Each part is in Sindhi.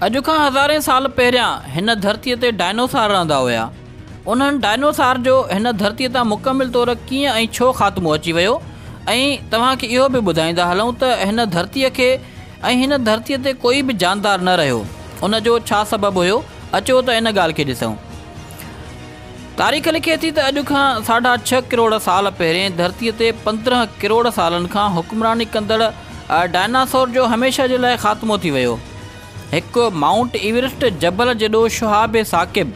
اڄ کان هزارين سال پهريان هن ڌرتيء تي ڊائنوسار رهندا هيا. انهن ڊائنوسار جو هن ڌرتيء تان مڪمل طور ڪيئن ۽ ڇو خاتمو اچي ويو ۽ توهان کي اهو به ٻڌائيندا هلون ته هن ڌرتيء کي ۽ هن ڌرتيء تي ڪوئي به جاندار نه رهيو ان جو ڇا سبب هيو اچو ته ان ڳالهه کي ڏسون. تاريخ لکي ٿي ته اڄ کان ساڍا ڇهه ڪروڙ سال پهرين ڌرتيء تي پندرهن ڪروڙ سالن کان حڪمراني ڪندڙ ڊائناسور جو هميشه جي لاء خاتمو ٿي ويو. هڪ مائونٽ ايورسٽ جبل جيڏو شهاب ثاقب،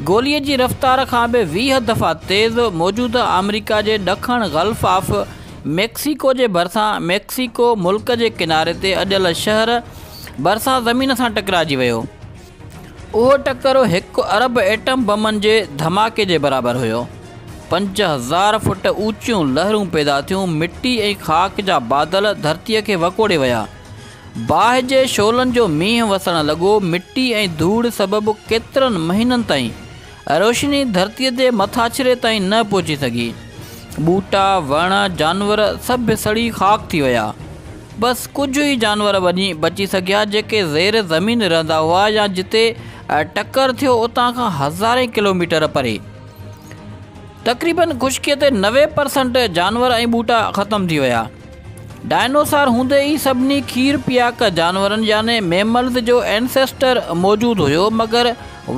گوليء جي رفتار کان به ويهه دفعا تيز، موجوده آمريڪا جي ڏکڻ گلف آف ميڪسيڪو جي ڀرسان ميڪسيڪو ملڪ جي ڪناري تي اڏيل شهر ڀرسان زمين سان ٽڪرائجي ويو. اهو ٽڪر هڪ ارب ايٽم بمن جي ڌماڪي جي برابر هيو. پنج هزار فوٽ اوچيون لهرون پيدا ٿيون، مٽي ۽ خاڪ جا بادل ڌرتيء کي وڪوڙي ويا. باهه جي شعلن جو مينهن وسڻ لڳو، مٽي ۽ ڌوڙ سبب ڪيترن مهينن تائين روشني ڌرتيء جي مٿاڇري تائين نه پهچي سگهي. ٻوٽا، وڻ، جانور سڀ سڙي خاڪ ٿي ويا. بس ڪجهه ئي جانور بچي سگهيا جيڪي زير زمين رهندا هئا يا جتي ٽڪر ٿيو اتان کان هزارين ڪلوميٽر پري. تقريبن خشڪيء تي نوي پرسنٽ جانور ۽ ٻوٽا ختم ٿي ويا. ڊائنوسار هوندي ئي سڀني کير پياڪ جانورن يعني ميملز جو Ancestor موجود هيو مگر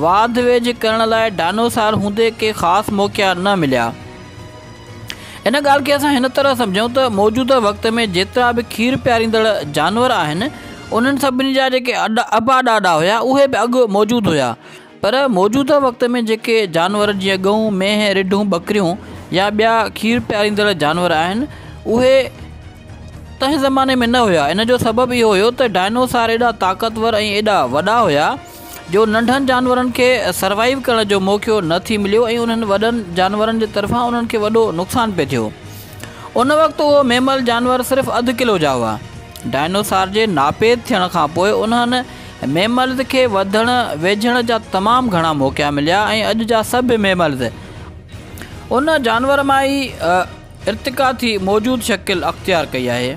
واڌ ويجهه ڪرڻ لاء ڊائنوسار هوندي ڪي خاص موقعا نه مليا. ان ڳالهه کي اسان هن طرح سمجهون ته موجوده وقت ۾ جيترا به کير پياريندڙ جانور آهن انهن سڀني جا جيڪي ابا ڏاڏا هيا اهي به اڳ موجود هيا. پر موجوده وقت ۾ جيڪي جانور جيئن ڳئون، مينهن، رڍون، ٻڪريون يا ٻيا کير پياريندڙ جانور آهن اهي تنهن زماني ۾ نه هيا ان جو سبب اهو هيو ته ڊائنوسار ايڏا طاقتور ۽ ايڏا وڏا هيا جو ننڍن جانورن کي سروائيو ڪرڻ جو موقعو نه ٿي مليو ۽ انهن وڏن جانورن جي طرفان انهن کي وڏو نقصان پئي ٿيو ان وقت اهو ميمل جانور صرف اڌ ڪلو جا هئا ڊائنوسار جي ناپيد ٿيڻ کانپوء انهن ميملز کي وڌڻ ويجهڻ جا تمام گهڻا موقعا مليا ۽ اڄ جا سڀ ميملز ان جانور مان ئي ارتقا ٿي موجود شڪل اختيار ڪئي آهي